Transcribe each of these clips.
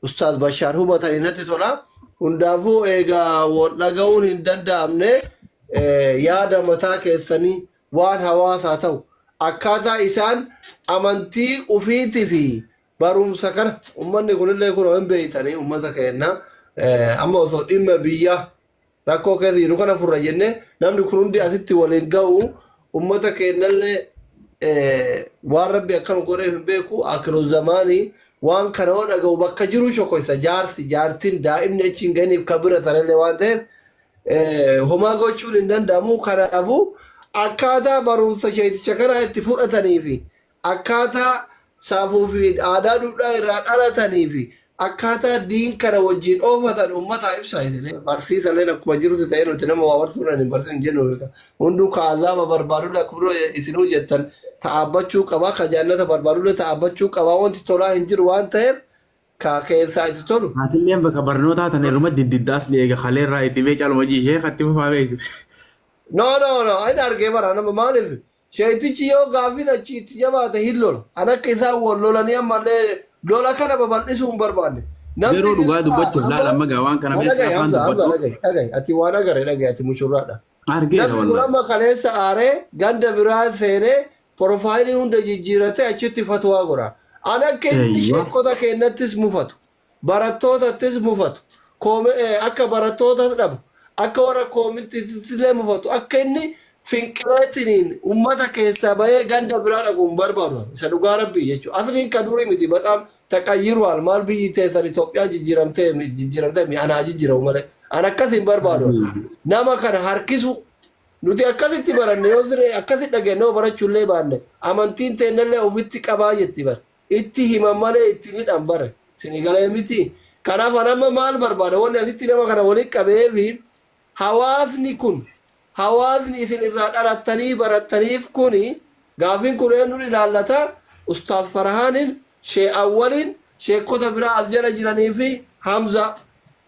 Ustaaz Bashaar hubatanii natti tola. Hundaafuu egaa wal dhaga'uun hin danda'amne eh, yaada mataa keessanii waan hawaasaa ta'u akkaataa isaan amantii ufiitii fi barumsa kana uummanni kunillee kunoo hin beektanii uummata keenya eh, amma osoo dhimma biyyaa Rakkoo keessa jiru kana furra jennee namni kun hundi asitti waliin ga'u ummata keennallee waan rabbi akkanu godheef hin beeku akiru zamaanii waan kana yoo dhaga'u bakka jiru shokoysa jaarsi jaartiin daa'imni achi hin ga'iniif ka bira sanallee waan ta'eef homaa gochuun hin danda'amu kanaafuu akkaataa barumsa sheeticha kanaa itti fudhatanii fi Akkaataa saafuu fi aadaa duudhaa irraa dhalatanii fi akkaataa diin kana wajjiin oofatan ummataa ibsa isin. Barsiisalleen akkuma jirutti ta'ee nuti nama waa barsuudhaan hin barsiisnu hin jennu beeka. Hunduu ka azaaba barbaadullee akkuma isinuu jettan ta'aabbachuu qaba, ka jaannata barbaadullee ta'aabbachuu qaba, wanti tolaa hin jiru waan ta'eef ka keessaa itti tolu. Atilleen bakka barnootaa tan irruma diddidda asli eega kalee irraa itti mee caluma jii sheeka itti fufaa beeksise. No no no hin argee bara nama maaliif Sheyxichi yoo gaaffiin achii itti jabaate hin lola. Kan akka isaan wal lolanii ammallee lola kana babal'isuu hin barbaanne. Namni Garuu dhugaa biraa dubbachuuf laal amma amma gaa waan kana mee dhagahi saafaan Hamza, Hamza dubbadhu. dhagahi, dhagahi. Ati waan agare dhagahi, ati mushurraadha. Argeera Namni kun wallahi. amma kaleessa aaree ganda biraa seenee porofaayilii hunda jijjiiratee achitti fatwaa godha. An akka inni Eeywa. sheekota keennattis mufatu. barattootattis mufatu, akka barattootas dhabu, akka warra koomittiittillee mufatu akka inni finqileetiniin ummata keessaa bahee ganda biraa dhaqu hin barbaadu ani. Isa dhugaa Rabbii jechuudha. Asliin ka durii miti baxaam taqayyiru'aal maal biyyi teessan Itoophiyaan jijjiiramtee mi- jijjiiramtee mi ana haa jijjiiramu malee. An akkas hin barbaadu ani. Nama kana harkisu nuti akkasitti baranne yoo siree akkasitti dhageenye yoo barachuullee baanne amantiin teennallee ofitti qabaa jetti bara. Itti himan malee itti hin hidhan bar. Isinii galee miti? Kanaaf ani amma maal barbaada? Wanni asitti nama kana walitti qabeef hawaasni kun, hawaasni isin irraa dhalattanii barattaniif kuni gaaffiin kun eenyuun ilaallata? Ustaaz Farhaaniin, Sheeh Awwaliin, sheekkota biraa as jala jiranii fi Hamzaa.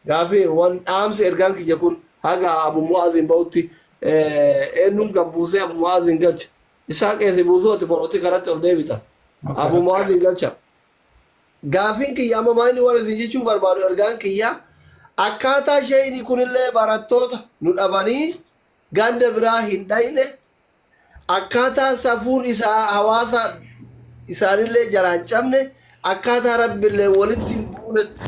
Gaaffii wan dhaamsi ergaan kiyya kun haga Abu Mu'aaziin bahutti eenyuun gad buusee Abu Mu'aaziin galcha? Isaa keeti buusuu ati korooti karatti ol deebita. Abu Mu'aadhin galcha. Gaafiin kiyya amma maa inni waan isin jechuu barbaadu ergaan kiyya akkaataa sheeyni kunillee barattoota nu dhabanii ganda biraa hin dhayne akkaataa safuun isaa hawaasa isaanillee jalaa hin cabne akkaataa rabbillee walitti hin buunetti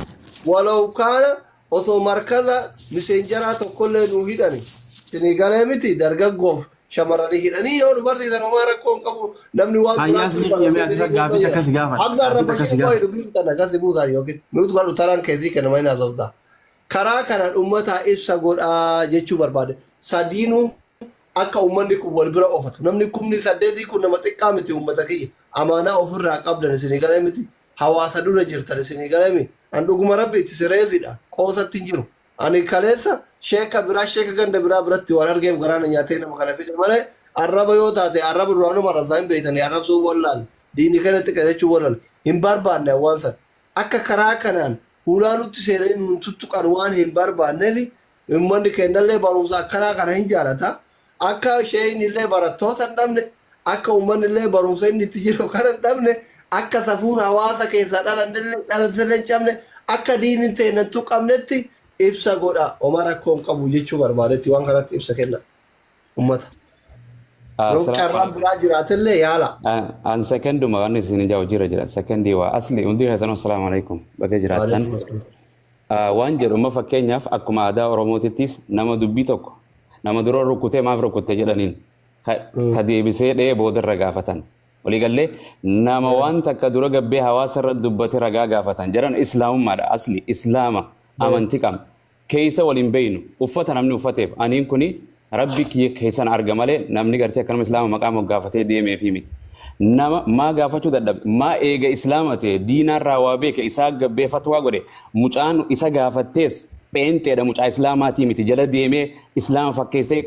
walaw kaana osoo markaza miseenjaraa tokkollee nu hidhani isinii galee miti dargaggoof Shamarrani hidhanii yoo dubartii san homaa rakkoo hin qabu namni waan Hayyaas guraacha ni ulfaatu qiyyamee jedhanii asirra gaafii boodayyaa. akkasi gaafadha. Hamza Gaafii arrabashee akkasi qofa gaafadha. dubbii bitan akkasi buusaa yookiin nuti kan utaraan keessii kenna maayinaa sooftaa. Karaa kanaan uummataa ibsa godhaa jechuu barbaade. Sadiinuu akka uummanni kun wal bira oofatu. Namni kumni saddeetii kun nama xiqqaa miti uummata kiyya. Amaanaa ofirraa qabdan isinii galee miti. Hawaasa dura jirtan isinii galee miti. An dhuguma rabbi itti sireesidha. Qoosatti hin jiru. Ani kaleessa sheeka biraa sheeka ganda biraa biratti waan argeef garaa na nyaatee nama kana fide malee arraba yoo taate arraba duraanuma arrabsaa hin beektani arrabsuu wallaal diini keenyatti qajechuu wallaal hin barbaanne awwaan san akka karaa kanaan hulaa nutti seenanii nuun tuttuqan waan hin barbaanneefi ummanni keennallee barumsa akkanaa kana hin jaalata Akka sheeyni illee barattoota hin dhabne, akka uummanni illee barumsa inni itti jiru kana hin dhabne, akka safuun hawaasa keessaa dhalatte illee hin cabne, akka diinni teenna hin tuqamnetti ibsa godha. Homaa rakkoo hin qabu jechuu barbaadetti waan kanatti ibsa kenna. Uummata. Yoo carraan biraa jiraate illee yaala. An sekenduma waan isin ijaa hojiirra jira. Sekendii waa asli hundi keessanuu assalaamu alaikum. Baga jiraattan. waan jedhu amma fakkeenyaaf akkuma aadaa Oromootittis nama dubbii tokko nama dura rukkutee maaf rukkutte jedhaniin ka ka deebisee dhee boodarra gaafatan. Waliigallee nama waan takka dura gabbee hawaasa irra dubbate ragaa gaafatan jedhan islaamummaadha asli islaama amanti qabna keessa waliin beeynu uffata namni uffateef aniin kuni Rabbi kiyya keessan arga malee namni gartee akkanuma islaama maqaa moggaafatee deemeefii miti. Nama maa gaafachuu dadhabe maa eega islaama ta'e diinaarraa waa beeke isaa gabbee fatwaa godhe mucaan isa gaafattees pheenxeedha mucaa islaamaatii miti jala deemee islaama fakkeessee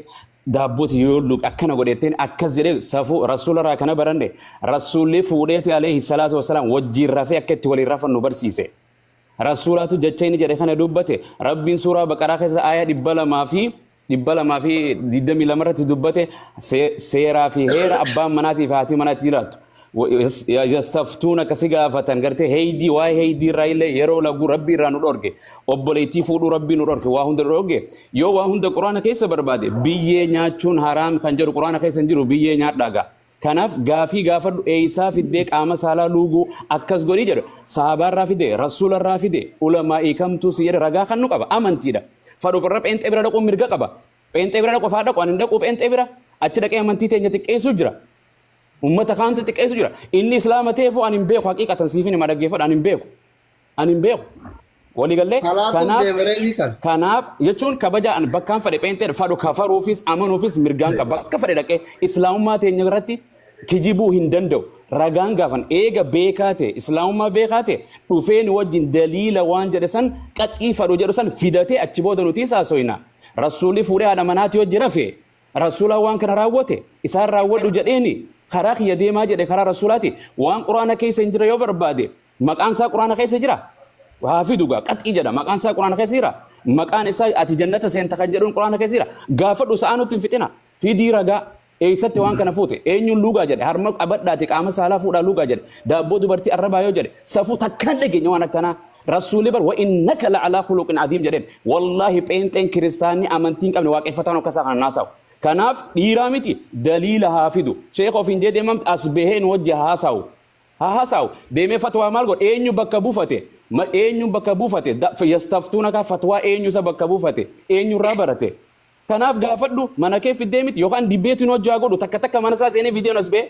daabbooti yoo luqe akkana godheetteen akkas jedhee safuu rasuularraa kana baranne rasuulli fuudheeti alayhi salaatu wassalaam wajjiin rafee akka itti waliin rafan nu barsiise. Rasuulaatu jecha inni jedhe kana dubbate rabbiin suuraa baqaraa keessa aayaa dhibba lamaa fi dhibba lamaa fi digdamii lama irratti dubbate see- seeraa fi heera abbaan manaatii fi haatii manaa itti jiraattu. Wa- yas- ya- Yastaftuun akka si gaafatan gartee heeydii waa'ee heeydii irraa illee yeroo laguu rabbii irraa nu dhorge obboleettii fuudhuu rabbii nu dhorge waa hunda nu dhorge yoo waa hunda quraana keessa barbaade biyyee nyaachuun haraam kan jedhu quraana keessa hin jiru biyyee nyaadhaagaa. Kanaaf gaafii gaafadhu eeysaa fiddee qaama saalaa luuguu akkas godhii jedhe sahaabaa irraa fidee rasuula irraa fidee ulamaa'ii kamtuu si jedhe ragaa kannu qaba amantiidha fadhu qorra pheenxee bira dhaquun mirga qaba pheenxee bira dhaqu faa dhaqu an hin dhaquu pheenxee bira achi dhaqee amantii teenya xiqqeessuu jira ummata kaantu xiqqeessuu jira inni islaama ta'eefuu an hin beeku haqiiqatan siifin hima dhaggeeffadha an hin beeku Ani hin beeku. Walii gallee Kalaatuuf kanaaf deemaree ni kala. kanaaf jechuun kabaja an bakkaan fedhe pheenxeedha fadhu kafaruufis amanuufis mirgaan qaba bakka fedhe dhaqee islaamummaa teenya irratti kijibuu hin danda'u ragaan gaafan eega beekaa ta'e islaamummaa beekaa ta'e dhufee nu wajjin daliila waan jedhe san qaxii fadhu jedhu san fidatee achi booda nuti isaa soyna rasuulli fuudhee haadha manaati wajji rafe rasuula waan kana raawwate isaan raawwadhu jedheeni karaa kiyya deemaa jedhe karaa rasuulaati waan quraana keessa hin jirre yoo barbaade Maqaan isaa Quraana keessa jira? Haa fidu gaa qaxii jedha. Maqaan isaa Quraana keessa jira? Maqaan isaa ati jannata seenta kan jedhuun Quraana keessa jira? Gaafadhu sa'aa nutti hin fixina. Fidii ragaa. Eessatti waan kana fuute? Eenyuun luugaa jedhe? Harma qabadhaati qaama saalaa fuudhaa luugaa jedhe. Daabboo dubartii arrabaa yoo jedhe. Safuu takkaan dhageenya waan akkanaa. Rasuulli bar wa'innaka la'alaa khuluqin adiim jedheen. Wallaahi pheenxeen kiristaanni amantii hin qabne waaqeffataan akkasaa kan naasawu. Kanaaf dhiiraa miti daliila haa fidu. Sheekha ofiin jedhee mamti as baheen wajji haasawu. haa hasaawu deemee fatwaa maal godha eenyu bakka bufate ma eenyu bakka bufate da- f- yastaftuuna kaa fatwaa eenyu isa bakka bufate eenyu irraa barate kanaaf gaafadhu mana kee fiddee miti yookaan dibbeetiin hojjaa godhu takka takka mana isaa seenee viidiyoon as ba'e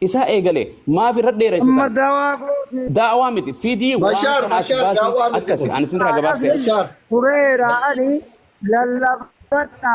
isaa eegale maaf irra dheeressitan Amma dawaa gootee daawaa miti fidii waan Bashaar, kana as Bashaar, baasii daawaa miti akkasi kun. ani isinirraa gabaabsee Bashaar. tureera ani lallabadha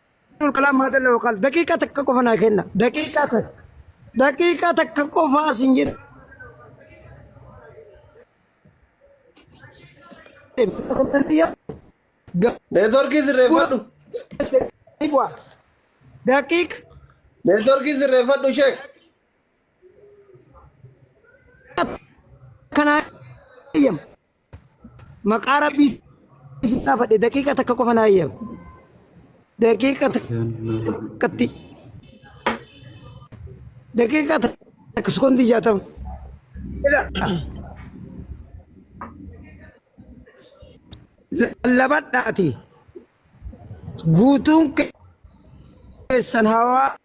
Abdul Kalaam Maadalla Waqaal daqiiqaa takka qofa naa kenna. Daqiiqaa takka. Daqiiqaa takka qofa asin jedha. Neetworkii sirreeffadhu. Daqiiqa Neetworkii sirreeffadhu sheek. kanaa eeyyama. Maqaa rabbii si gaafadhe daqiiqa takka qofa naa eeyyama. Daqiiqa takkatti. Daqiiqa takka sekoondii jaatama. Lallabadhaati. Guutuun keessan hawaa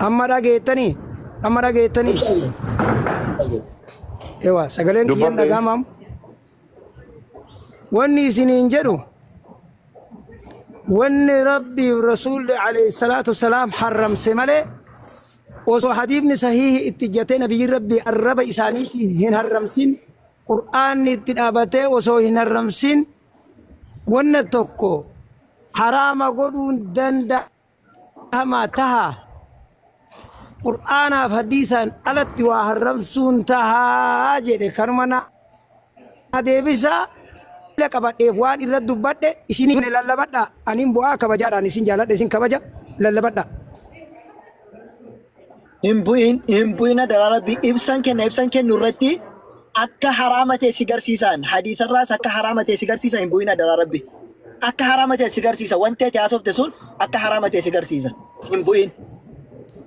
Amma dhageettanii? Amma dhageettanii? Ewa sagaleen kiyyan Dubbadhe. dhagaamaam. Wanni isiniin jedhu wanni rabbiif rasuulli alayhi salaatu wasalaam harramse malee osoo hadiifni sahiihi itti jatee nabiyyiin rabbii arraba isaaniitiin hin harramsin qur'aanni itti dhaabatee osoo hin harramsin Wanna tokko haraama godhuun danda'ama taha. Qur'aanaaf hadiisaan alatti waa harramsuun tahaa jedhe kanuma na deebisa ila qabadheef waan irra dubbadhe isinii kune lallabadha anin bu'aa kabajaadhaan isin jaaladha isin kabaja lallabadha. Hin bu'in, hin bu'in adaraa rabbi ibsan kenna ibsan kennu irratti akka haraama ta'e si garsiisaan hadiisarraas akka haraama ta'e si garsiisa hin bu'in adaraa rabbi. Akka haraama ta'e si garsiisa wanti ati haasofte sun akka haraama ta'e si garsiisa hin bu'in.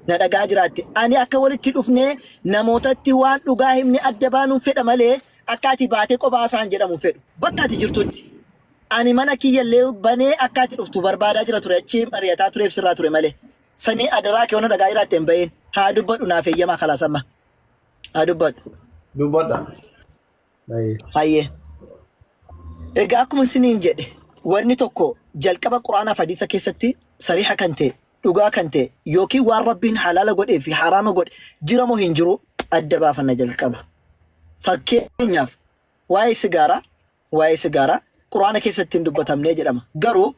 Na dhagaa jiraatte ani akka walitti dhufnee namootatti waan dhugaa himne adda baanuun fedha malee akka ati baatee qophaa isaan jedhamu hin fedhu. Bakka ati jirtutti ani mana kiyyallee banee akka ati dhuftu barbaadaa jira ture achi mari'ataa tureef sirraa ture malee. Sanyii adaraa kee wanna dhagaa iraatte hin ba'iin. Haa dubbadhu naaf eeyyamaa kalaas amma. Haa dubbadhu. Dubbadha. Baay'ee. Hayyee. Egaa akkuma isiniin jedhe wanni tokko jalqaba quraanaa fi hadiisa keessatti sariiha kan ta'e dhugaa kan ta'e yookiin waan rabbiin halaala godhee fi haraama godhe jira moo hin jiru adda baafanna jalqaba. Fakkeenyaaf waa'ee sigaaraa Waa'ee sigaaraa Qur'aana keessatti hin dubbatamne jedhama. Garuu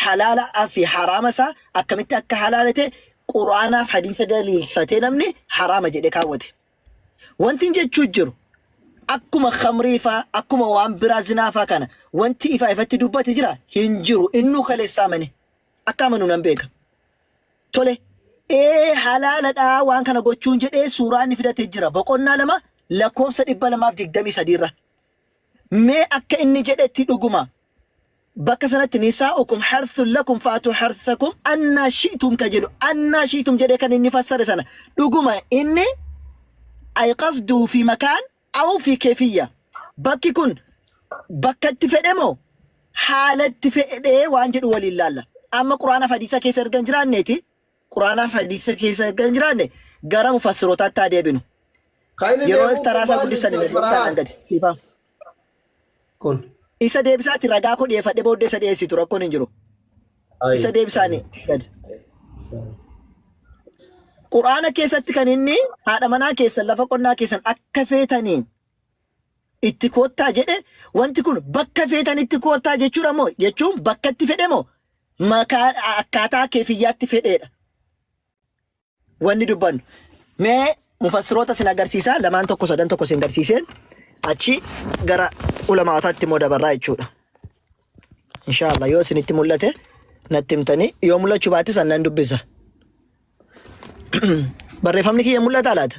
halaala fi haraama isaa akkamitti akka halaalate Qur'aanaa fi hadiisa daliilsfatee namni haraama jedhe kaawwate. Wantin jechuu jiru akkuma khamrii faa akkuma waan biraa zinaa faa kana wanti ifa ifatti dubbate jira hin jiru innuu kaleessaa mane akka amanu nan beeka. Tole ee halaaladhaa waan kana gochuun jedhee suuraa inni fidate jira boqonnaa lama lakkoofsa dhibba lamaaf digdamii sadiirra. Mee akka inni jedhetti dhuguma bakka sanatti nisaa'ukum harthun lakum fa'atuu harthakum annaa shi'tum ka jedhu annaa shi'tum jedhee kan inni fassare sana dhuguma inni ay qasduhu fi makaan aw fi keefiyya bakki kun bakka itti fedhe moo haala itti fedhee waan jedhu waliin laalla amma quraana fi hadiisa keessa erga hin jiraanneeti Qur'aanaa fi Hadiisa keessa erga hin jiraanne gara mufassirootaatti haa deebinu. Kan inni Yeroo beeku iftaraasaa gurbaan guddistan ilmi deebisaa Abbaa naan gadi. Dhiifama. kun. Isa deebisaatti ragaa koo dhiyeeffadhe booddee isa dhiyeessitu rakkoon hin jiru. Ayi. Isa deebisaanii gadi. Qur'aana keessatti kan inni haadha manaa keessan lafa qonnaa keessan akka feetaniin itti koottaa jedhe wanti kun bakka feetanitti koottaa jechuudha moo jechuun bakka itti fedhe moo makaa akkaataa keefiyyaatti fedheedha wanni dubbannu mee mufassiroota sin agarsiisaa lamaan tokko sadan tokko sin agarsiiseen achi gara ulamaawaataatti immoo dabarraa jechuudha inshaallah yoo isinitti mul'ate natti himtanii yoo mul'achuu baate san nan dubbisa barreeffamni kiyya mul'ataa laata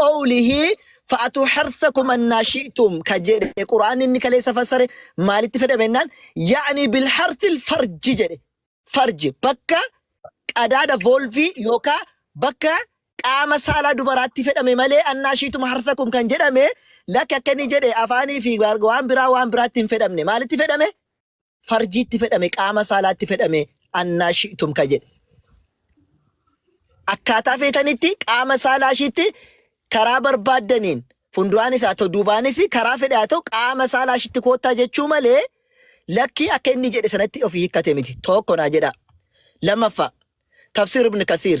qawlihi fa'atu harsakum annaa shi'tum ka jedhe qur'aan inni kaleessa fassare maalitti fedhame jennaan yaani bil harsil farji jedhe farji bakka qadaada volvii yookaa bakka qaama saalaa dubaraatti fedhame malee annaa shi'tum harsakum kan jedhame lakki akka inni jedhe afaanii fi waan biraa waan biraatti hin fedhamne maalitti fedhame farjiitti fedhame qaama saalaatti fedhame annaa shi'tum ka jedhe. Akkaataa feetanitti qaama saalaa ishiitti karaa barbaaddaniin fuulduraanis haa ta'u duubaanis karaa fedhe haa ta'u qaama saalaa ishiitti koottaa jechuu malee lakkii akka inni jedhe sanatti ofii hiikkate miti. Tokko naa jedhaa. Lammaffaa tafsir ibn kathiir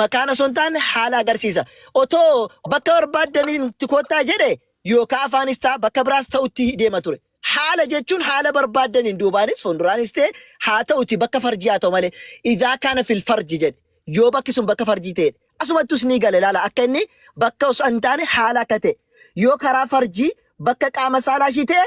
maqaan osoo hin taane haala agarsiisa. Otoo bakka barbaaddaniin itti koottaa jedhe yookaan afaanis ta'a bakka biraas ta'utti deema ture. Haala jechuun haala barbaaddaniin duubaanis fuulduraanis ta'e haa ta'uti bakka farjii haa ta'u malee idaa kaana fil farji jedhe yoo bakki sun bakka farjii ta'e asumattus ni gale laala akka inni bakka osoo hin taane haala akka ta'e yoo karaa farjii bakka qaama saalaa ishii ta'e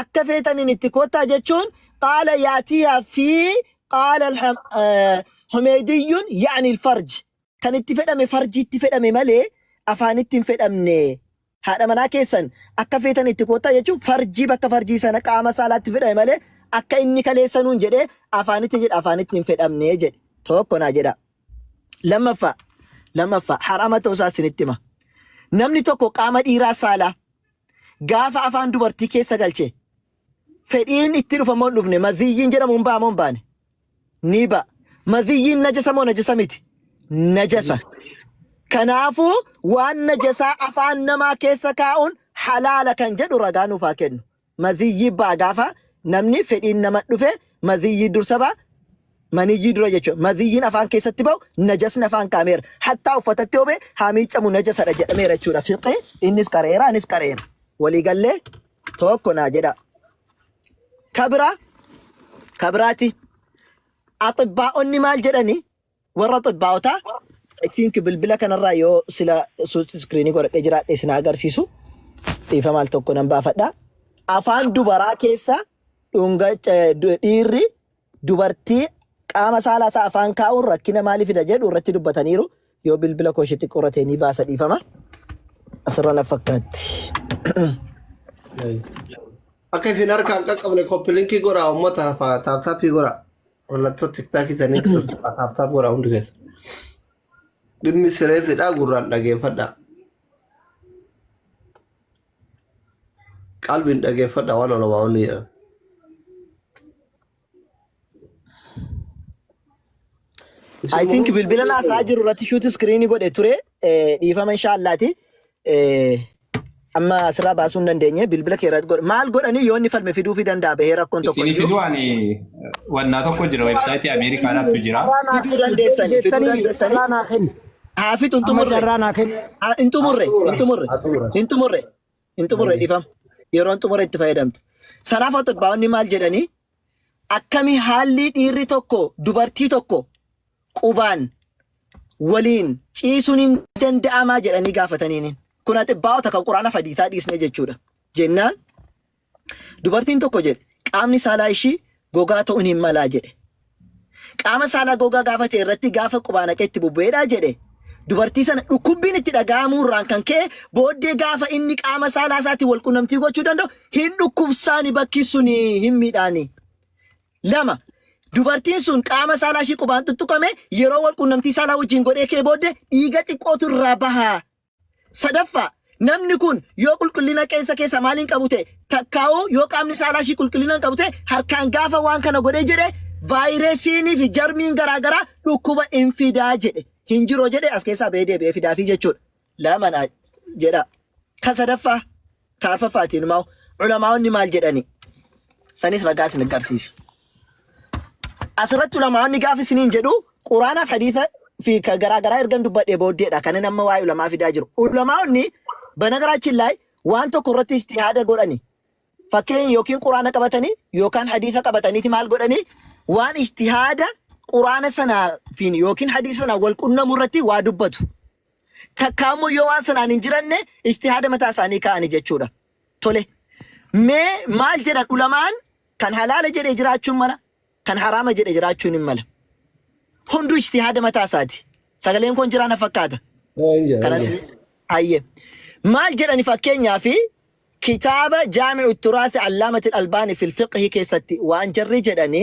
Akka feetaniin itti koottaa jechuun qaala yaatiyaa fi qaala humeeydiyyuun yaani ilfarj kan itti fedhame farjiitti fedhame malee afaanitti hin fedhamne haadha manaa keessan akka feetan itti koottaa jechuun farjii bakka farjii sana qaama saalaatti fedhame malee akka inni kaleessanuun jedhee afaanitti jedha afaanitti hin fedhamne jedhe tokko naa jedha lammaffaa lammaffaa harama ta'uusaa isinitti hima namni tokko qaama dhiiraa saalaa gaafa afaan dubartii keessa galche fedhiin itti dhufa moo hin dhufne maziyyiin jedhamu hin ba'a moo hin baane ni ba'a maziyyiin najasa moo najasa miti najasa kanaafuu waan najasaa afaan namaa keessa kaa'uun halaala kan jedhu ragaa nuuf haa kennu maziyyii ba'a gaafa namni fedhiin nama dhufe maziyyii dursa ba'a Maniyyii dura jechuudha. Madhiyyiin afaan keessatti ba'u najasni afaan kaameera. Hattaa uffatatti yoo ba'e haa miiccamu najasadha jedhameera jechuudha. Fiqee innis qara'eera anis qara'eera. Walii gallee tokko naa jedha. Kabiraa kabiraati. Axibbaa'onni maal jedhani? Warra axibbaa'otaa I think bilbila kanarraa yoo sila suuti iskiriinii godhadhee jiraadhe isin haa agarsiisu. Dhiifa maal tokko nan baafadha. Afaan dubaraa keessa dhunga eh, du- dhiirri Dubartii qaama saala isaa afaan kaa'uun rakkina maali fida jedhu irratti dubbataniiru. Yoo bilbila koo ishee xiqqoo irra ta'e ni baasa dhiifama. Asirra na fakkaatti. Akka isin harkaan qaqqabne koppilinkii godhaa uummata hafaa taaptaappii godhaa. Mallattoo tiktaakii ta'anii taaptaap godhaa hundi keessa. Dhimmi sireessidhaa gurraan dhageeffadhaa. Qalbiin dhageeffadha waan olamaa'onni jedhan. I think bilbila naasaa jiru irratti shuuti iskiriinii godhe ture eh, dhiifama inshaallaati. Eh, Amma asirraa baasuu hin dandeenye bilbila kee irratti godhe. Maal godhanii yoo inni falme fiduufii danda'a bahee rakkoon tokko hin Isiniif jiru. waan wannaa tokko jira weebsaayitii Ameerikaadhaatu jira. Fiduu dandeessanii fiduu dandeessanii. Carraa naa kenni. Haafit hin Amma xumurre. carraa naa kenni. Ah, Hin xumurre. Hin xumurre. Hin xumurre. Hin xumurre dhifam. Yeroo hin xumurre itti fayyadamte. Salaafa xibbaa'onni maal jedhanii? Akkami haalli dhiirri tokko dubartii tokko qubaan waliin ciisuun hin danda'amaa jedhanii gaafataniini. Kun axibbaa'ota kan quraana fadiisaa dhiisne jechuudha. Jennaan Dubartiin tokko jedhe qaamni saalaa ishii gogaa ta'uun hin malaa jedhe. Qaama saalaa gogaa gaafa ta'e irratti gaafa qubaa naqee itti bubbu'eedhaa jedhe. Dubartii sana dhukkubbiin itti dhaga'amuu irraan kan ka'e booddee gaafa inni qaama saalaa isaatiin wal qunnamtii gochuu danda'u hin dhukkubsaani bakki suni hin miidhaani. Lama dubartiin sun qaama saalaa ishii qubaan tuttuqame yeroo wal qunnamtii saalaa wajjin godhee ka'e booddee dhiiga xiqqootu irraa bahaa Sadaffaa, namni kun yoo qulqullina qeensa keessa maaliin qabu ta'e takkaa'uu yoo qaamni saalaa ishii qulqullina hin qabu ta'e harkaan gaafa waan kana godhee jedhe vaayiresiinii fi jarmiin garaagaraa dhukkuba hin fidaa jedhe hin jiroo jedhe as keessaa ba'ee deebi'ee fidaafii jechuudha. Laman jedha. Kan sadaffaa Ka arfaffaatiin immoo ulamaa'onni maal jedhani? Sanis ragaa isin agarsiisa. Asirratti ulamaa'onni gaafa isiniin jedhu quraanaaf hadiisa fi ka garaa garaa ergan dubbadhee booddeedha kanan amma waa'ee ulamaa fidaa jiru. Ulamaa'onni banagaraachin laay waan tokko irratti istihaada godhani. Fakkeenya yookiin quraana qabatanii yookaan hadiisa qabataniiti maal godhanii waan istihaada quraana sanaafiin yookiin hadiisa sanaan wal qunnamu irratti waa dubbatu. Takkaa immoo yoo waan sanaan hin jiranne ijtihaada mataa isaanii kaa'ani jechuudha. Tole. Mee maal jedhan ulamaan kan halaala jedhe jiraachuun mala kan haraama jedhe jiraachuun hin mala. Hunduu ijtihaada mataa isaati. Sagaleen kun jiraa na fakkaata. Eeyyee, Kanas eeyyee. hayyee. Maal jedhani fakkeenyaa fi kitaaba jaami'u turaasi allaamati albaani fil fiqhi keessatti waan jarri jedhani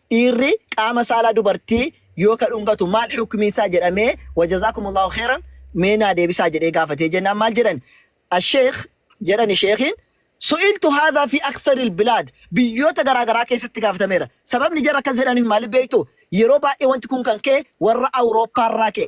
Dhiirri qaama saalaa dubartii yoo ka dhungatu maal hukmiin isaa jedhamee wajazaakumullahu kheyran mee naa deebisaa jedhee gaafatee jennaan maal jedhan asheekh jedhani sheekhiin su'iltu haadhaa fi aktharil bilaad biyyoota garaa garaa keessatti gaafatameera sababni jara akkas jedhaniif maaliif beektu yeroo baay'ee wanti kun kan ka'e warra awurooppaarraa ka'e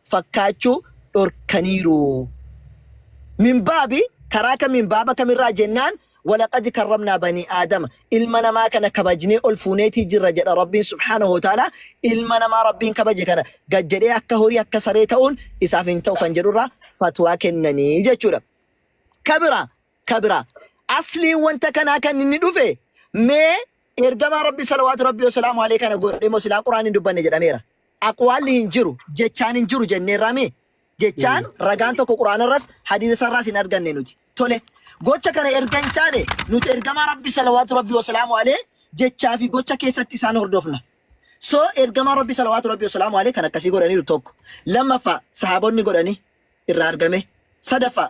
fakkaachuu dhorkaniiru. Min baabi karaa kamiin baaba kamirraa jennaan walaqad karramnaa banii aadama ilma namaa kana kabajnee ol fuuneetii jirra jedha Rabbiin subhaanahu wa ta'aalaa ilma namaa Rabbiin kabaje kana gad jedhee akka horii akka saree ta'uun isaaf hin ta'u kan jedhurraa fatwaa kennanii jechuudha. Kabira ka biraa. Asliin wanta kanaa kan inni dhufe mee Ergamaa Rabbii salawaatu Rabbii wasalaamu aleyh kana godhe moo silaa Qur'aanni hin dubbanne jedhameera. Aqwaalli hin jiru, jechaan hin jiru jenneerraa mii? Jechaan ragaan tokko Qur'aanarras hadiisasarraas hin arganne nuti. Tole gocha kana erga hin taane nuti Ergamaa Rabbii salawaatu Rabbii wasalaamu aleyh jechaa fi gocha keessatti isaan hordofna. So Ergamaa Rabbii salawaatu Rabbii wasalaamu aleyh kan akkasii godhaniiru tokko. Lammaffaa sahaabonni godhanii irraa argame. Sadaffaa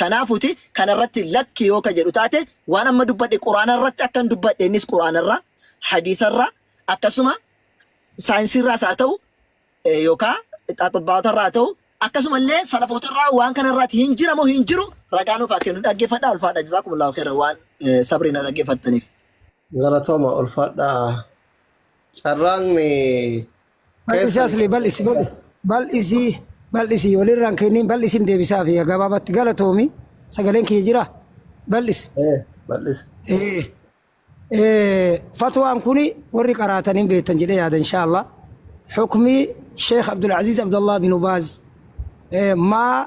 Kanaafuti kana irratti lakki yoo ka jedhu taate waan amma dubbadhe quraana irratti akkan dubbadhe innis quraana irraa hadiisa irraa akkasuma saayinsii irraas haa ta'u eh, yookaa xaxibbaata irraa haa ta'u akkasuma illee salafoota irraa waan kana irraati hin jiramoo hin jiru ragaa nuuf haa kennu dhaggeeffadhaa ulfaadha jazaakumullahu khairan waan eh, sabrii na dhaggeeffattaniif. Galatooma ulfaadhaa. Carraan eh, Bal'isi asli bal'isi bal'isi bal'isi bal'isi walirraan kenniin bal'isin deebisaa fi gabaabatti galatoomi sagaleen kiyya jira bal'isi. Eh, bal'isi. Eh, eh, Fatwaan kuni warri qaraatan hin beektan jedhee yaada inshaallah. Hukmii Sheekh Abdul Aziz Abdallah bin Ubaaz eh, maa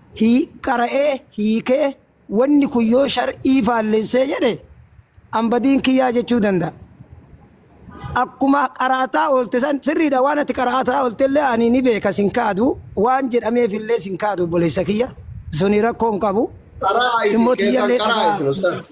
hii qara'ee hiikee wanni kun yoo shar'ii faallessee jedhe an badiin kiyyaa jechuu danda'a. Akkuma qaraataa oolte san sirriidha waan ati qaraataa oolte illee ani ni beeka sin kaadu waan jedhameef illee sin kaadu obboleessa kiyya suni rakkoo hin qabu. Qara'aa isin Dhimmoota keessan iyyalee qara'aa dhagaa. isin ustaaz.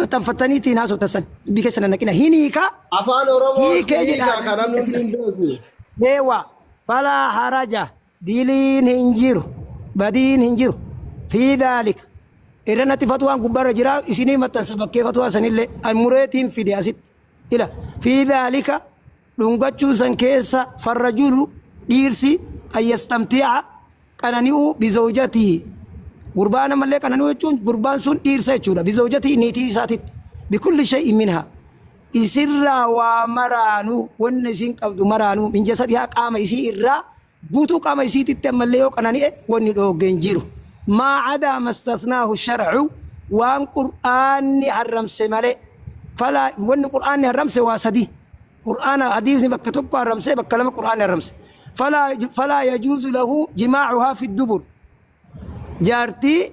maxxanfattaniitti hin haasoftan san dubbii keessa nannaqina hin hiika Afaan Oromoo hiikee hiika jedha kana nuti hin beeku. deewa falaa haraja diliin hin jiru badiin hin jiru fi daalika irra natti fatuwaan gubbarra jira isinii maxxansa bakkee fatuwaa sanillee an mureetiin fide asitti ila fi daalika Dhungachuu san keessa farrajulu, dhiirsi, ayyastamti'a, qanani'uu, bizawjatihi, gurbaa namallee qanani'uu jechuun gurbaan sun dhiirsa jechuudha, bizawjatihi, niitii isaatitti, bikulli shay'in minhaa, isirraa waa maraanuu, wanna isiin qabdu maraanuu, min jasadihaa, qaama isii irraa, Guutuu qaama isiititti ammallee yoo qanani'e wanni dhoogge hin jiru. Maa adaa mastathnaahu shar'u waan qur'aanni harramse malee. Falaa wanni qur'aanni harramse waa sadii. Qur'aana hadiisni bakka tokko harramse bakka lama qur'aanni harramse. Falaa falaa yajuuzu lahu jimaacuhaa fi dubur. Jaartii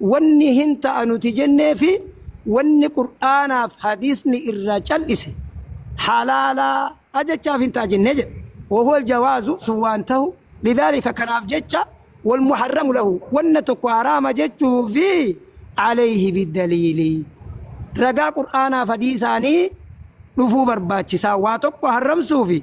Wanni hin ta'a nuti jennee fi wanni Qur'aanaa fi Hadiisni irraa cal'ise halaala jechaaf hin ta'a jennee jedhe. Wahuwa aljawaazu, sun waan tahu, lidhaalika kanaaf jecha, walmuharramu lahu, wanna tokko haraama jechuufi, alayhi biddaliili, ragaa Qur'aanaa fi Hadiisaanii dhufuu barbaachisaa, waa tokko harramsuufi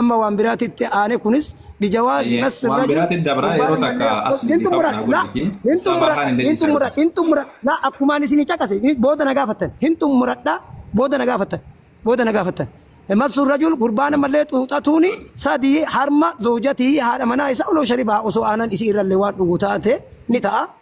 Amma waan biraatti itti aane kunis bijawaazi Eeyyee, massi waan rajul biraatti dabraa gurbaan yeroo takka ilmallee as hin deebifaa xumuradha kanaa laa godhiiti. hin Isaa baahaa xumuradha hin hin deebisaa yeroo xumuradha takka. hin xumuradha laa akkumaan isinii caqase ni- booda na gaafattan hin xumuradha booda na gaafattan booda na gaafattan massu rajul gurbaan ilmallee xuuxatuuni sadii harma zawjatii haadha manaa isaa oloo sharibaa osoo aanan isii irrallee waan dhugu taate ni ta'a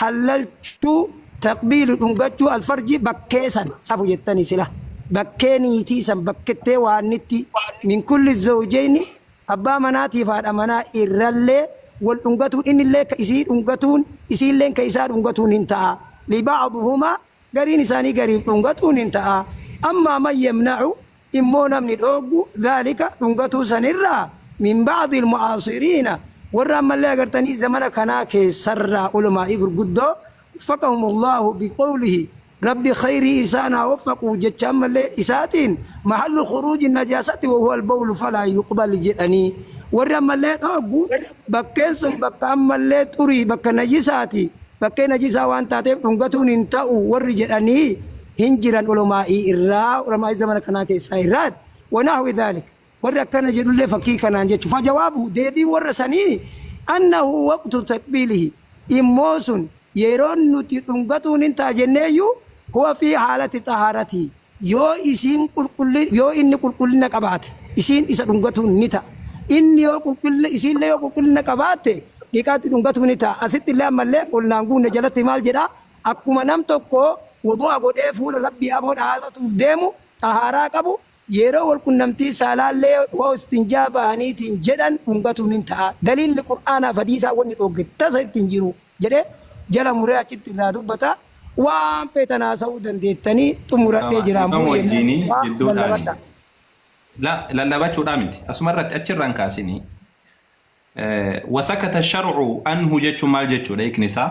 hallalchuu, taqbiilu, dhungachuu alfarji bakkee san safu jettani sila bakkee niitii san bakkettee waannittii min kulli zawjayni abbaa manaatiif haadha manaa irrallee wal dhungatuun innillee ka isii dhungatuun isiilleen ka isaa dhungatuun hin ta'a li ba'dhuhumaa gariin isaanii gariif dhungatuun hin ta'a, ammaa man yamna'u immoo namni dhooggu dhaalika dhungatuu san irraa min ba'dil mu'aasiriina warra ammallee agartanii zamana kanaa keessarraa ulamaa'ii gurguddoo waffaqahum Allaahu biqawlihi Rabbi khayrii isaan haa waffaqu jecha ammallee isaatiin mahallu khuruuji najaasati wa huwa albawlu falaa yuqbal jedhanii warri ammallee dhooggu Bakkeen sun bakka ammallee xurii, bakka najisaati, bakkee najisaa waan taateef dhungatuun hin ta'u warri jedhanii hin jiran ulamaa'ii irraa, ulamaa'ii zamana kanaa keessaa irraati. Wa nahwi dhalik. Warri akkana jedhullee fakkii kanaan jechu. Fa jawaabuhu, deebiin warra sanii, annahu waqtu taqbiilihi, immoo sun yeroon nuti dhungatuun hin ta'a jenneeyyuu, huwa fii haalati xahaaratii, Yoo isiin qulqulli, yoo inni qulqullina qabaate, isiin isa dhungatuun ni ta'a. Inni yoo qulqullina, isiin'llee yoo qulqullina qabaatte, dhiqaatti dhungatuu ni ta'a. Asitti'llee ammallee ol'na hin guunne jalatti maal jedhaa? Akkuma nam tokko wudu'a godhee fuula Rabbii aboo dhaabatuuf deemu, xahaaraa qabu, yeroo wol qunnamtii saalaa'llee yoo istinjaa bahaniitiin jedhan dhungatuu nin ta'a. Daliilli qur'aanaaf hadiisaa wonni dhoogge tasa itti hin jiruu. jedhee jala muree achitti irraa dubbata. Waan feetan haasa'uu dandeettanii xumuradhee jira Dhiifama ammoo jennaan wajjiinii waa jidduudhaani. lallabadha. La lallabachuudhaa miti. Asuma irratti achirraan kaasinii eh, wasakata sharcu anhu jechuun maal jechuudha hiikni isaa?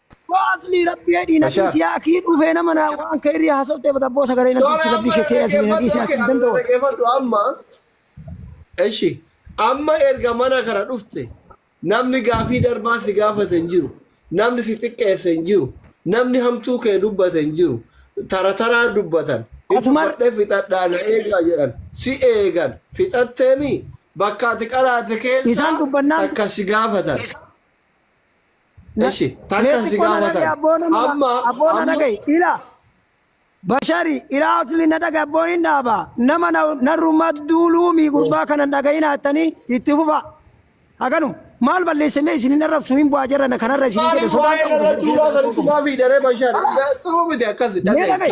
Boo aslii rabbi hedhii na Mashaa. dhiisii akii dhufee nama naa waan ka irrii hasoftee bata boo sagalee na dhiichi rabbii kee ta'e aslii na dhiisii akii danda'u. Dhaggeeffadhu amma. Eshi. Amma erga mana kana dhufte namni gaafii darbaa si gaafate hin jiru. Namni si xiqqeesse hin jiru. Namni hamtuu kee dubbate hin jiru. Tara taraa dubbatan. Hin Asumar- dubbadhee fixadhaa na eegaa jedhan. Si eegan. Fixatteemi bakka ati qaraate keessa Isaan dubbannaan- takka si gaafatan. Eshi, takka si gaafatan. Amma, amma. Ila. Bashari, ila asli na dhaga abboo hin dhaaba. Nama na, narrummaa duuluumi gurbaa kana hin dhaga'ina jettanii itti fufa. Haganum. Maal balleessamee isin hin arrabsu hin bu'aa jirra na kanarra isin hin jedhu Maaliif sodaa waa'ee qabdu. irratti ulaa sanatti maa fiidaree bashaadha? Xuruu miti akkasi. Mee dhaga'i.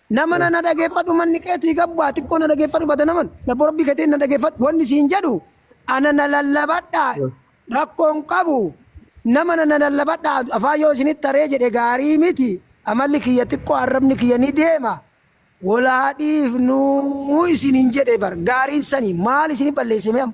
Nama na na dhageeffadhu manni keetii gabbaa xiqqoo na dhageeffadhu bada naman labbo rabbii keetiin na dhageeffadhu wanni siin jedhu ana na lallabadha rakkoon qabu nama na na lallabadha afaan yoo isinitti taree jedhe gaarii miti amalli kiyya xiqqoo arrabni kiyya ni deema wal haa dhiifnuu isiniin jedhe bar gaariin sani maal isini balleessimee amma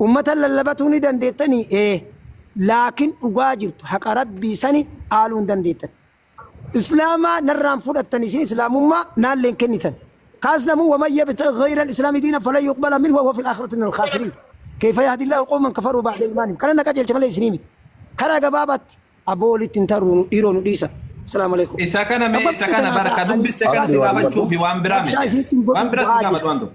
Ummata lallabatuu ni dandeettanii? Ee. Laakiin dhugaa jirtu haqa Rabbii sani aaluu hin dandeettan. Islaamaa narraan fudhattan isin Islaamummaa naalleen kennitan. Kaas namuu waman yabtaghi ghayral islaami diinan falan yuqbala minhu wa huwa fil aakhirati minal khaasiriin. Kayfa yahdi Allaahu qawman kafaruu ba'da iimaanihim. Kana na qajeelcha malee isinii miti. Karaa gabaabaatti aboo walitti hin tarruu nu dhiiroo nu dhiisa. Salaamu alaikum. Isa kana mee isa kana bara ka dubbiste kana si gaafachuufi waan biraa miti. Waan biraa si gaafatu waan tokko.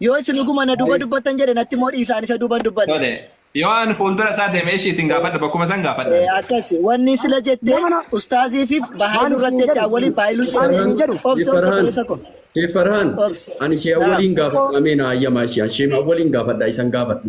Yoo isin dhuguma na duuba dubbattan jedhe natti immoo dhiisaan isa duuban dubbanne. Tole. Yoo an fuuldura isaa deeme ishii isin gaafadha bakkuma san gaafadha. Eh, Akkas wanni sila jette Nama na- ustaaziifiif Maal bahaayiluu isin irratti jedhu? waliin bahaayiluu Maal isin jedhanii jedhu? obsa obsa Farhaan. balleessa koo. Sheef Farhaan. Obsi. Ani ishee Naam. awwaliin gaafadha. Ameen ayyamaa ishee. Ishee awwaliin gaafadha. Isan gaafadhu.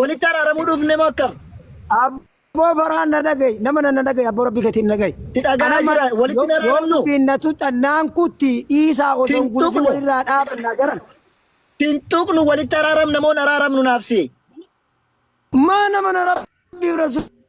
Walitti araaramuu dhufne moo akkam? Abboo faraan na dhaga'i. Nama na dhaga'i. Abboo rabbi keetiin na dhaga'i. Si dhaga'aa jira. Walitti hin araarnu. Yoo dubbiin na tuxxan naan kutti dhiisaa osoo hin gulufin walirraa dhaabannaa jaran. Sin tuqnu walitti araaramna moo hin araaramnu naaf si. Maa nama na rabbiif rasuula.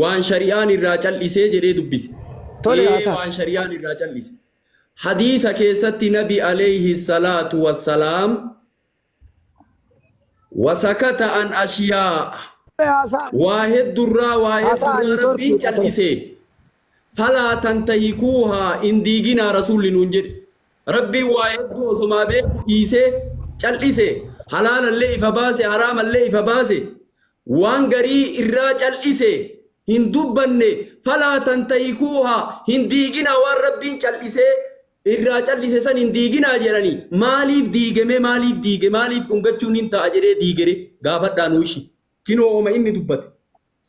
Waan shari'aan irraa cal'isee jedhee dubbise. Tole Ee Hasan. waan shari'aan irraa cal'ise. Hadiisa keessatti nabi alayhi salaatu wassalaam wasakata an ashiyaa'a Tole Hasan. waa heddurraa waa Hasan, heddurraa network rabbiin hidhate. cal'ise falaa tantahikuuhaa hin diiginaa rasuulli nuun jedhe rabbiin waa hedduu osomaa beeku dhiisee cal'ise halaalallee ifa baase haraamallee ifa baase Waan garii irraa cal'ise hin dubbanne falaa tantahikuuha hin diiginaa waan Rabbiin cal'isee irraa cal'ise san hin diiginaa jedhani maaliif diige mee maaliif diige maaliif dhungachuun hin ta'a jedhee diigere gaafadhaa nuu ishi kinoo homa inni dubbate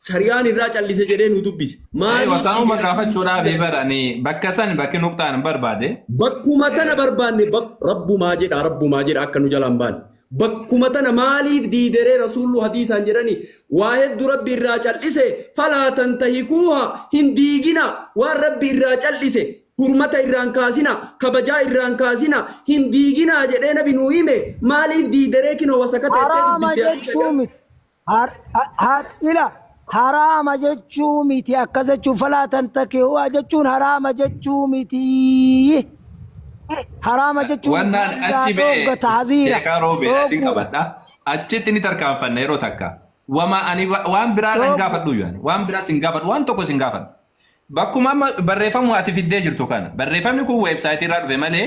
sari'aan irraa cal'ise jedhee nuu dubbise Ee, maaliif wasaa'uma diigere gaafachuudhaaf diigere bar ani bakka san bakki nuqxaan barbaade. bakkuma tana barbaanne bak rabbumaa jedha rabbumaa jedha akka nu jalaan baane Bakkuma tana maaliif diideree Rasuullu hadiisaan jedhani waa heddu Rabbi irraa cal'ise falaa tantahikuuha hin diigina waan Rabbi irraa cal'ise hurmata irraa hin kaasina kabajaa irraa hin kaasina hin diigina jedhee nabi nuu hime maaliif diideree kino wasaka teettee Haraama dubbiste hadiisa jechuu jedhan. miti. Har- ha- har- ila haraama jechuu miti akkas jechuun falaa tantakihuu jechuun haraama jechuu miti haraama jechuu miti Wannaan hanga achi mee dhoogga taaziira sheekaa roobee asin dhoogguudha qabadha. Achitti ni tarkaanfanna yeroo takka. Wama ani wa- waan biraa hin Dhooggu. gaafadhu yaani. Waan biraa sin gaafadhu. Waan tokko sin gaafadhu. Bakkuma amma barreeffamuma ati fiddee jirtu kana. Barreeffamni kun weebsaayitii irraa dhufe malee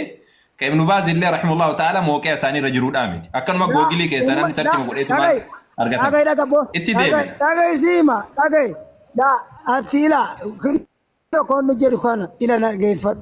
ka Ibnu Baaz illee rahimullahu ta'ala mooqi'a isaanii irra jiruudhaa miti. Akkanuma Yaa googilii keessaa umma namni da sarchuma godheetumaan dhaga'i dhaga'i argatama. dhaga bo Itti dhaga'i deebi'a. dhaga'i siima dhaga'i da ati ila kun tokkoon nu jedhu kana ila dhageeffadhu.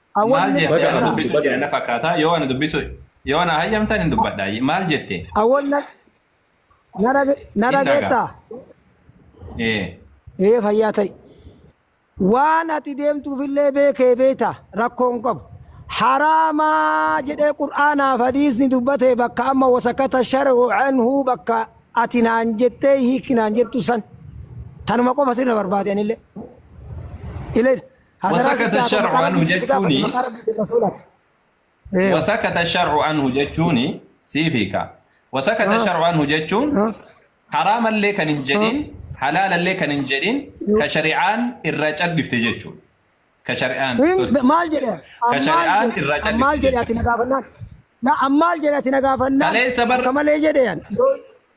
Maal Awwalli jette? Bada Ana Abdu, dubbisuu bada. jira na fakkaata. Yoo ana dubbisuu yoo ana hayyamtan hin dubbadha. Maal jette? Awwal na na dhage- na Hin dhaga. dhageettaa? Ee. Ee fayyaa ta'i. Waan ati deemtuufillee beekee beekta rakkoon qabu. Haraamaa jedhee qur'aanaaf hadiisni dubbatee bakka amma wasakata shar'u anhu bakka ati naan jettee hiiki naan jettu san. Tanuma qofa sirra barbaade anillee. Ilayda. Hadaraa si Wasakata gaafadha, shar'u maqaa anhu rabbiitiin si gaafadha, jechuuni. maqaa rabbiitiin rasuulaa. Eewa. Wasakata shar'u anhu jechuuni siif hiika. Wasakata Ah. shar'u anhu jechuun Ah. haraamallee kan hin jedhin halaalallee kan hin jedhin ka shari'aan irraa cal'ifte jechuudha. Ka shari'aan. Hin- maal jedhe Ka shari'aan irraa callisu ammaal jedhe jechuudha. ati na gaafannaan na ammaal jedhe ati na gaafannaan Kaleessa bar- akka malee jedhe yan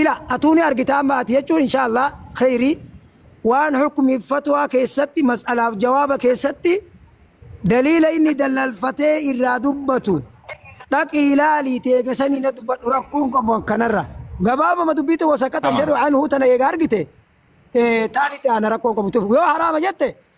Ila, atuu ni argitaa amma ati jechuun inshaa allaah kheeyrii waan hukmiif fatwaa keessatti mas'alaaf jawaaba keessatti daliila inni dallalfatee irraa dubbatu dhaqii ilaalii teega sanii na dubbadhu rakkoon qabu akkanarra gabaabama dubbii tun wasakata Tamam. shadhu anhu tana eega argite ee taan itti aana rakkoon qabu tuf yoo haraama jette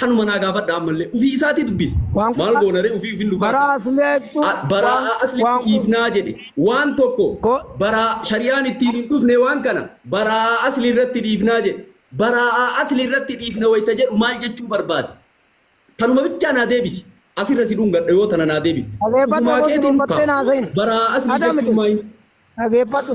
Kanuma naa gaafadhaa ammallee ufii isaatii dubbisi. Waan Maal kun- goonaree ufii ufin nu Baraa baasa. asleettu. A- Baraa waan- aslitti waan kun- dhiifnaa jedhe waan tokko Ko- baraa shari'aan ittiin hin dhufne waan kana baraa asli irratti dhiifnaa jedhe baraa asli irratti dhiifna wayita jedhu maal jechuu barbaade tanuma bichaa naa deebisi asirra si dhungadha yoo tana naa deebifte Dhaggeeffadhu, ofumaa keetiin boqottee naa seeni. baraa asli Adamite. jechuun maayini Dhageeffadhu.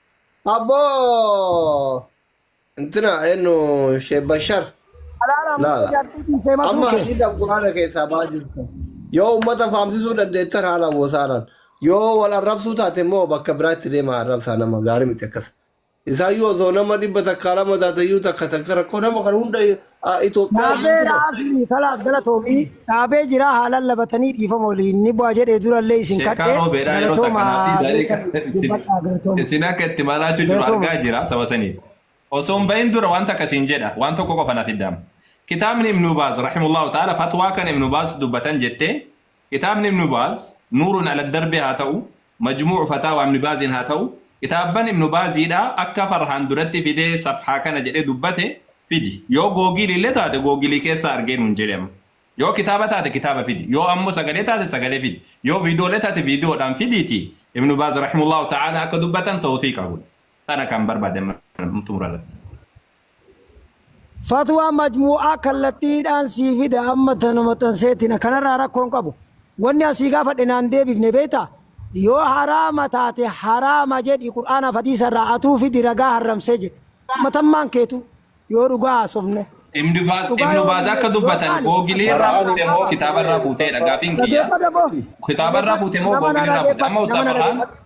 Abboo! Intina eenyu Sheekh Bashar. Alaala Laa, ammoo laa. jaartiitiin Amma seemasuu kee. hadiisa Quraana keessaa ba'aa jirtu. Yoo uummata faamsisuu dandeettan haala wosaaraan. Yoo wal arrabsuu taate immoo bakka biraatti deemaa arrabsaa nama gaarii miti akkas. Isaayyuu osoo nama dhibba takkaa lama taatayyuu takka takka rakkoo nama kan hunda Ah, Itoophiyaa Dhaabee iyyuu dha. raasni kalaas galatoomii dhaabee jira haalaan labatanii dhiifama waliin ni bu'a jedhee durallee isin Sheekaa kadhee roobeedhaa yeroo takka galatoomaa naaf dhiisaa beekan eegaa. Isin- dubbadhaa galatooma. Isin akka itti maraachuu jiru Galatooma. argaa jira saba saniif. Osoo hin bahin dura waan takka siin jedha waan tokko qofa naaf iddaama. Kitaabni Ibnu Baaz rahimullahu ta'ala fatwaa kan Ibnu Baaz dubbatan jettee Kitaabni Ibnu Baaz, Nuurun ala Darbi haa ta'u, Majmuu'u Fataawa Ibni Baazin haa ta'u, kitaabban Ibnu Baaziidhaa akka Farhaan duratti fidee safhaa kana jedhee dubbate fidi. Yoo Googiili illee taate Googilii keessaa argee nuun jedhi amma. Yoo kitaaba taate kitaaba fidi. Yoo ammoo sagalee taate sagalee fidi. Yoo viidiyoollee taate viidiyoodhaan fidiitii Ibnu Baaz Rahimullahu Ta'aalaa akka dubbatan tawthiiqa godhi. Tana kan barbaade amma xumura irratti. Fatwaa majmuu'aa kallattiidhaan sii fida amma tana maxxanseetina kanarraa rakkoo hin qabu wanni an sii gaafadhe naan deebifne beektaa yoo haraama taate haraama jedhi qur'aanaaf hadiisarraa atuu fidi ragaa harramsee jedhe matammaan keetu yoo dhugaa haasofne Ibnu Baaz dhugaa Ibnu yoo Baaz akka dubbanne yoo dubbatan taane googilii irraa Qur'aana fuute moo kitaaba irraa fuuteedha gaafiin kiyya. dhageeffadha boo Kitaaba irraa fuute moo nama na googilii irraa fuute. Amma dhageeffadha nama na ustaaza kaan dhageeffadha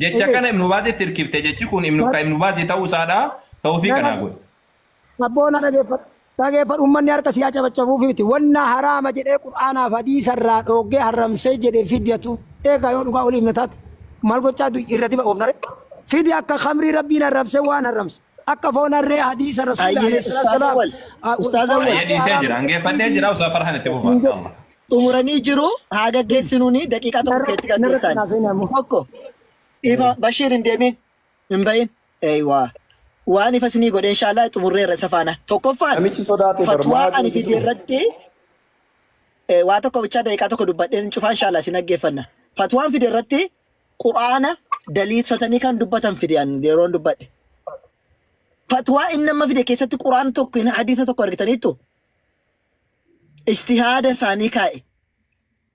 Jecha kana Ibnu Baazitti hirkifte jechi kun Ibnu ka Ibnu Baazii ta'uu isaadha. Tawfiiqa naa godhi. Abboona dhageeffadhu. Dhageeffadhu ummanni harka siyaa cabacabuufi miti. Wanna haraama jedhee Qur'aanaaf hadiisa irraa dhooggee harramsee jedhe fidyatu. Eegaa yoo dhugaa waliif na taate maal gochaa du'i irra diba oofnare. Fidya akka khamrii rabbiin harramse waan harramse. Akka foon harree hadiisa rasuula Hayyee alayhi salaatu ustaaza salaam. wal ustaaza Foon wal Hayyee harree dhiisee haraam jira. Hangeeffadhee fiidii jira. Usaa farhan itti fufaa. Insha Allah. xumuranii jiru haa gaggeessinuun daqiiqaa tokko Narra- keetti narratti gaggeessaan. naaf hin hamu. Tokko ifa Bashiir hin deemin hin bahin. Eeywaa. Waan ifa isinii godhe inshaallah xumurreerra isa faana. Tokkoffaan Namichi sodaate bar fatwaa maal ani fide jedhu. irratti eh, waa tokko bichaa daqiiqaa tokko dubbadheen hin cufaa inshaallah isin dhaggeeffanna. Fatwaan fide irratti quraana daliilfatanii kan dubbatan fide ani yeroon dubbadhe. Fatwaa inni amma fide keessatti quraana tokko hin hadiisa tokko argitaniittu. ijtihaada isaanii kaa'e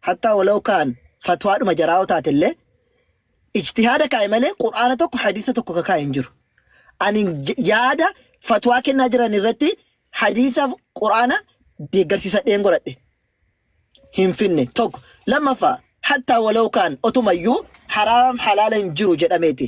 hattaa walaw kaan fatwaadhuma jaraa yoo taate illee ijtihaada kaa'e malee qur'aana tokko hadiisa tokko ka kaa'e hin jiru ani j- yaada fatwaa kennaa jiran irratti hadiisaaf qur'aana deeggarsiisa dheen godhadhe hin finne tokko lammaffaa hattaa walaw kaan otumayyuu haraam halaala hin jiru jedhameeti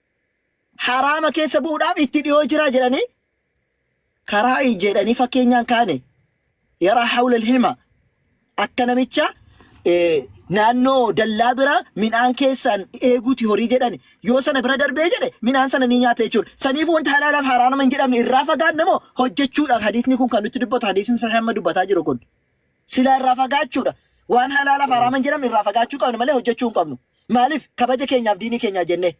haraama keessa bu'uudhaaf itti dhiyoo jira jedhanii karaa jedhanii fakkeenyaan kaane yaraa hawla hima akka namicha eh, naannoo dallaa bira midhaan keessaan eeguuti horii jedhan yoo sana bira darbee jedhe midhaan sana ni nyaata jechuudha. Saniif wanti halaalaaf haraama hin jedhamne irraa fagaanne moo hojjechuudhaaf hadiisni kun kan nutti dubbatu hadiisni sahih amma dubbataa jiru kun. Silaa irraa fagaachuudha. Waan halaalaaf haraaman jedhamu irraa fagaachuu qabna malee hojjachuu hin qabnu. Maaliif? Kabaja keenyaaf diinii keenyaaf jennee.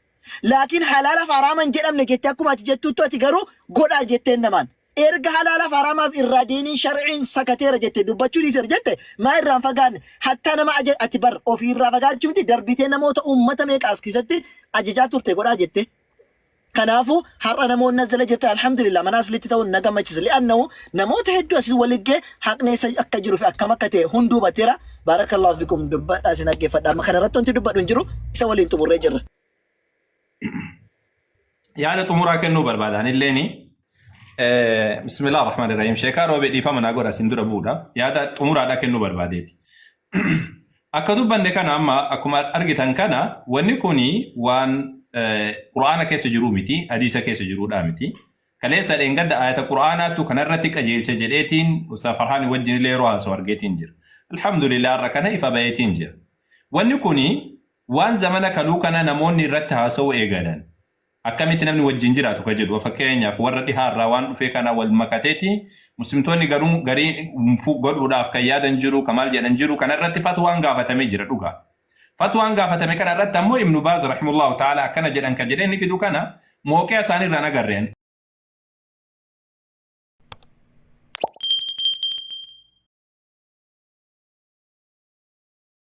Laakiin halaalaaf haraama hin jedhamne jettee akkuma ati jettuuttu ati garuu godhaa jetteen namaan. Erga halaalaaf haraamaaf irraa diiniin sharciin sakateera jette dubbachuu dhiiseera jette maa irraan fagaanne hattaa nama aja ati bar ofii irraa fagaachuu miti darbitee namoota uummata meeqa as keessatti ajajaa turte godhaa jettee. Kanaafu har'a namoonni as jala jirtan alhamdulillah mana aslitti ta'uun na gammachisa li'annahu namoota heddu asis wali ga'e haqni eessa akka jiru fi akkam akka ta'e hunduu hubateera baarakallahu fikum dubbadha isin dhaggeeffadha amma kana irratti wanti dubbadhu hin jiru isa waliin xumurree jirra. yaada xumuraa kennuu barbaada anilleeni. Eh, Bismillah ar-Rahman ar-Rahim. Sheekaa roobee dhiifama naa godha isin dura bu'uudha. Yaada xumuraadhaa kennuu barbaadeeti. Akka dubbanne kana amma akkuma argitan kana wanni kun waan eh, Qur'aana keessa jiruu miti, hadiisa keessa jiruudhaa miti. Kaleessa dheengadda ayata Qur'aanaattu kanarratti qajeelcha jedheetiin Ustaz Farhaanii wajjin illee yeroo haasa'u argeetiin jira. Alhamdulillah har'a kana ifa baheetiin jira. Wanni kun waan zamana kaluu kana namoonni irratti haasa'uu eegalan. Akkamitti namni wajjin jiraatu ka jedhu fakkeenyaaf warra dhihaa irraa waan dhufee kana wal makateeti muslimtoonni garuu garii fu godhuudhaaf kan yaadan jiru ka maal jedhan jiru kana irratti fatwaan gaafatamee jira dhugaa fatwaan gaafatame kana irratti ammoo ibnu baaz rahimullahu ta'ala akkana jedhan ka jedhee ni fidu kana mooqiya isaanii irraan agarre ani